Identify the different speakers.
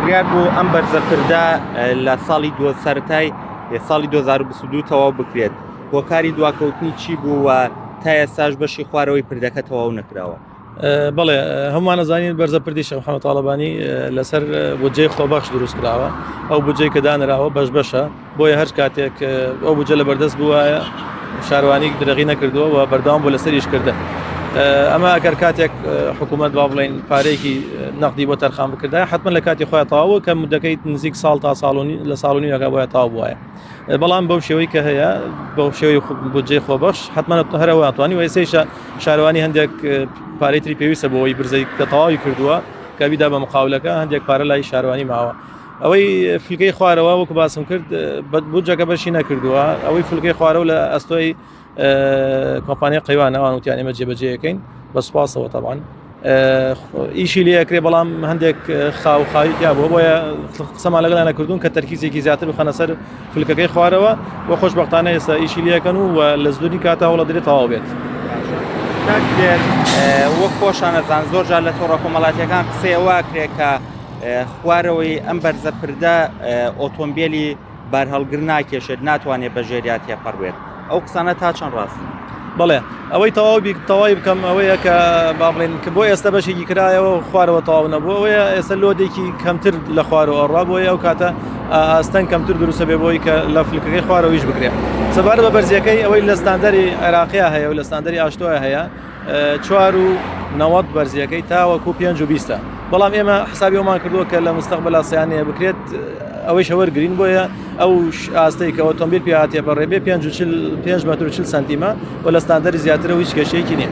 Speaker 1: بڕیار بوو ئەم بەرزە پردە لە ساڵی دو سەرای ساڵی 2022 تەواو بکرێت هۆکاری دواکەوتنی چی بوو و تا ئێستاش بەشی خوارەوەی پردەکە تەواو نەکراوە بڵێ
Speaker 2: هەمووان زانین بەرزە پردی شەمحەوە تاالبانی لەسەر بودجەی خۆبەخش دروست کراوە ئەو بجەی کە دانراوە بەش بەشە بۆیە هەر کاتێک ئەو بودجە لە بەردەست بووایە شاروانی درەغی نەکردووە و بەردەوام بۆ لەسەر ئیشکردن ئەمە ئەگەر کاتێک حکوومەت با بڵین پارێکی نەقدی بۆ تەرخان بکردا حتمما لە کاتی خۆیان تاوە کە مدەکەیت نزیک ساڵ تا ساڵنی لە ساڵنی یەکە بۆە تاو بواە بەڵام بەو شێوەی کە هەیە بەو شێوی بودجێ خۆبەش حتمما هەرەوە توانی وسەیشە شارەوانی هەندێک پارێتری پێویستە بۆەوەی برزەی کە تەواوی کردووە کە بیدا بە مقاولەکە هەندێک پارە لای شارەوانی ماوە ئەوەی فلکەی خوارەوە وەکو باسم کرد بودجەکە بەشی نەکردووە ئەوەی فلکەی خوارەوە لە ئەستۆی کۆمپانیای قەیوان ئەوان وتیان ئێمە جێبەجێەکەین بە سوپاسەوە تاوان ئیشی لەکرێ بەڵام هەندێک خاو خاویکە بۆ بۆیە قسەمان لەگەڵ نەکردوون کە تەرکیزێکی زیاتر و خەنەسەر فلکەکەی خوارەوە بۆ خۆشببختانە ئێستا ئیشی لەکەن و لە زدوری کاتا هەوڵە درێت تەواو بێت.
Speaker 1: وەک خۆشانەزان زۆر جار لە تۆڕە کۆمەڵاتیەکان قسەیە واکرێت کە خوارەوەی ئەم بەرزە پردە ئۆتۆمبیلی بارهەڵگر ناکێشێت ناتوانێت بە ژێریا تێپەڕوێت ئەو قسانە تا چەند ڕاستن بڵێ
Speaker 2: ئەوەی تەواو تەواوی بکەم ئەوەیە کە با بڵێن کە بۆ ئێستا بەشێکی کرایەوە خوارەوە تەواو نەبوو ئەوەیە ئێستا لۆدێکی کەمتر لە خوارەوە ئەڕا بۆیە ئەو کاتە ئاستەنگ کەمتر دروستە بێ بۆی کە لە فلکەکەی خوارەوەیش بکرێت سەبارە بە بەرزیەکەی ئەوەی لە ستاندەری عێراقیا هەیە و لە ستاندەری ئاشتۆە هەیە چوار و نەوەد بەرزیەکەی تاوەکو پێنج و بیستە بەڵام ئێمە حسابی ئەومان کردووە کە لە مستەقبلا سیانەیە بکرێت ئەوەی شەوەر گرین بۆیە ئەو ئاستەی کە ئۆتۆمبیل پیاتێ بەڕێبێ پێ پێ مەتر چل سانتیمە و لە ستاندەری زیاترەوە هیچ کێشەیەکی نیە.